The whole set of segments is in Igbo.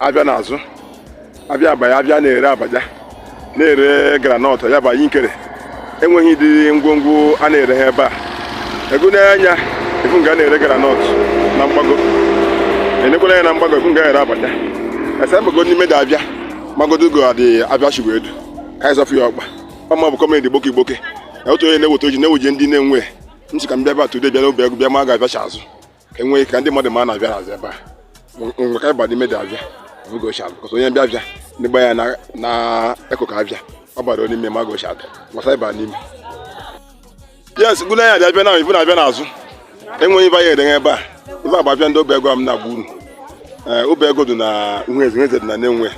afịa na-azụ afịa abaya abịa na-ere abacha na-ere granọt ya bụ nkere enweghị ụdị ngwongwo a na-ereghị ebe a ego n'anya ị fụ nga na-ere granọt na mgbago e nekwa anya na mgbago ị fụ nga ere abacha ese mgbago n'ime dị afịa mgbagodo go adị afịa chigwa edu ka anyị zọfụ ya ọkpa ọma bụ kọmedi Igboke Igboke otu onye na-eweta ozi na-eweje ndị Nenwe ntị ka m bịa ebe a tude bịa n'Obeagu bịa ma a ga afịa shi azụ enweghị ka ndị mmadụ ma na afịa na-azụ ebe a mgbe ka ịba n'ime dị afịa oge ochie afịa kọsọ onye bịa bịa ndị gba ya na eko ka abịa ọ bara n'ime ma oge ochie afịa gbasa ịba n'ime yes gụna ya abịa bịa na ị fụ na afịa na-azụ enweghị ife anyị edenye ebe a ibe agba afịa ndị Obeagu m na-agba uru eh, Obeagu dị na Uhueze Uhueze dị na Nenwe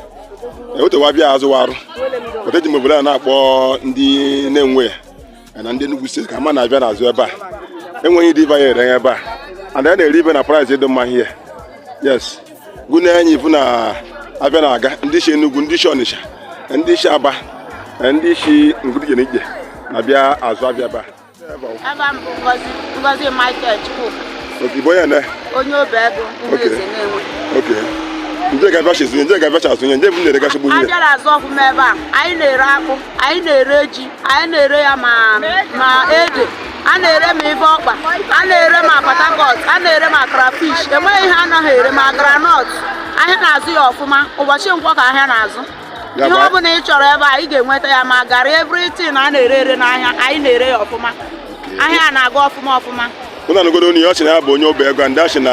eh, otewa afịa zụwarụ oteji m obodo a na-akpọ ndị Nenwe ya na ndị Enugu steeti ka ma na afịa na-azụ ebe a enweghị ụdị ife ya ere ebe a and a na-ere ife na price dị mma ihe yes gụnye anyị ị fụ na afịa na-aga ndị si Enugu ndị si Ọnịsha ndị si Aba ndị si nga dị iche n'iche na-abịa azụ afịa ebe a Afa m bụ Ngozi Ngozi Michael Chukwuka. Okay, bụ onye na? Onye Obeagu Uhueze Nenwe. Okay. Nje ga afịa shi azụ nje ga afịa shi azụ nje bụ na-ere gasị gburu. Afịa na-azụ ọfụma ebe a, anyị na-ere akpụ, anyị na-ere ji anyị na-ere ya ma ma ede a na-ere ma ife ọkpa a na-ere ma patakọt a na-ere ma krafish enweghị ihe anaghị ere ma granọt ahịa na-azụ ya ọfụma ụbọchị nkwọ ka ahịa na-azụ Ya ihe bụ- ọ bụla ị chọrọ ebe a ị ga-enweta ya ma garị evritin a na-ere ere n'ahịa anyị na-ere ya ọfụma ahịa a na-aga ọfụma ọfụma ụnụ anụgodo onye ọ sị na ya bụ onye Obeagu a ndị a sị na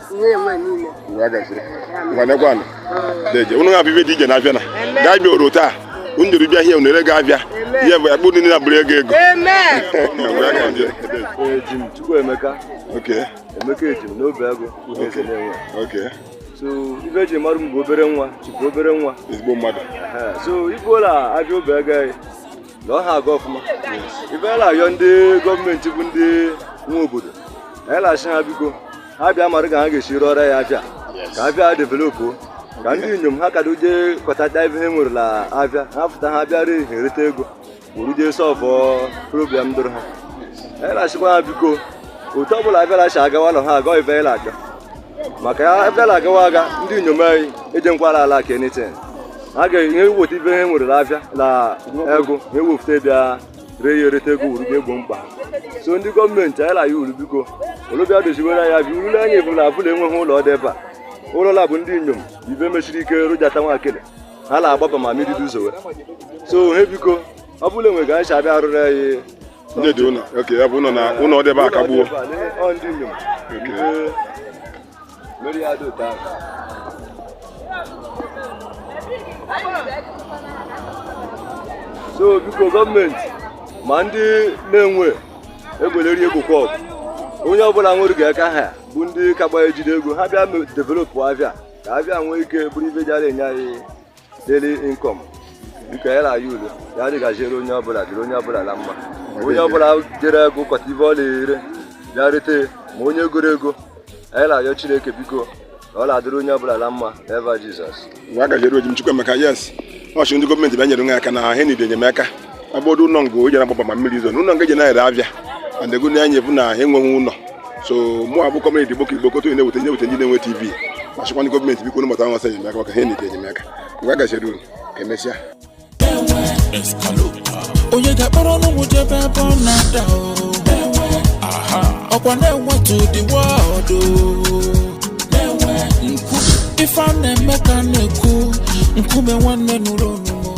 unu ga-afụ ife dị iche n'afịa na gaa bịa oro taa unu jere bịa hie unu ere ga-abịa ihe bụ akpụ niile abụrụ ego ego so ife e ji mara m bụ obere nwa chukwu obere nwa ezigbo mmadụ so ị fụọla afịa Obeagu anyị na ọ na-aga ọfụma ife a na-ayọ ndị gọọmenti bụ ndị nwe obodo anyị na-asị ha biko ha bịa mara ka ha ga-esi rụọrọ anyị afịa ka afịa developu ka ndị inyom ha kado jee kọtata ife ha nwere n'afịa ha pụta ha bịara ihe ereta ego wuru jee solve problem doro ha anyị na-asịkwa ha biko otu ọbụla afịa a si agawa nọ ha agọ ife anyị na-aga maka ya afịa a agawa aga ndị inyom anyị ejenkwala ala ka anything a ga-enye weta ife ha nwere n'afịa na ego ha ewefute bịa ree ya ereta ego wuru ga-egbo mkpa so ndị gọọmenti anyị na-ayọ unu biko unu bịa doziwere anyị afịa urule anyị bụ na abụla enweghị ụlọ dị ebe a ụlọ ụlọla bụ ndị inyom ibe m shiri ike rụjata nwakele ha na-agbaba ma mmiri dị ụzọ so he biko ọ bụrụ na enwe ga anyị si abịa arụrụ anyị ụdị ụlọ oke ya bụ ụlọ na ụlọ debe akagbuo so biko gọọmenti ma ndị na-enwe egweleri egwukwa ọgụ onye ọbụla nwere ka aka ha ya bụ ndị ka gba ejide ego ha bịa developụ afịa ka afịa nwee ike bụrụ ife ji enye anyị daily income nke ya na-ayị udo ya dịgaziere onye ọbụla dịrị onye ọbụla na mma onye ọbụla jere egokọta ife ọ na-ere ya rete ma onye goro ego anyị na-ayọ chineke biko na ọ na-adịrị onye ọbụla na mma ava Jizọs gaziere oji m Chukwuemeka yes ọchụ ndị gọọmenti bịa nyere nwe aka na ha niile enyemaka agbọdo ụlọ ngo jere agbaba ma mmiri izo na ụlọ ngo eji na-ere afịa and ego na-anya ebu na ha enweghị ụlọ so mụ abụ kọmedi Gboko Igbo koto na-eweta nye weta ndị na-enwe Tiv ma chịkwanụ gọọmenti biko nụmụta nwasa enyemaka maka ha na-ete enyemaka mgbe a gachara unu ka emesịa onye ga-akpọrọ n'ụmụ jebe ebe ọ na-ada o. ọkwa na-enwetu ụdị wọdụ ife a na-eme ka a na-ekwu nkume nwanne nụrụ onu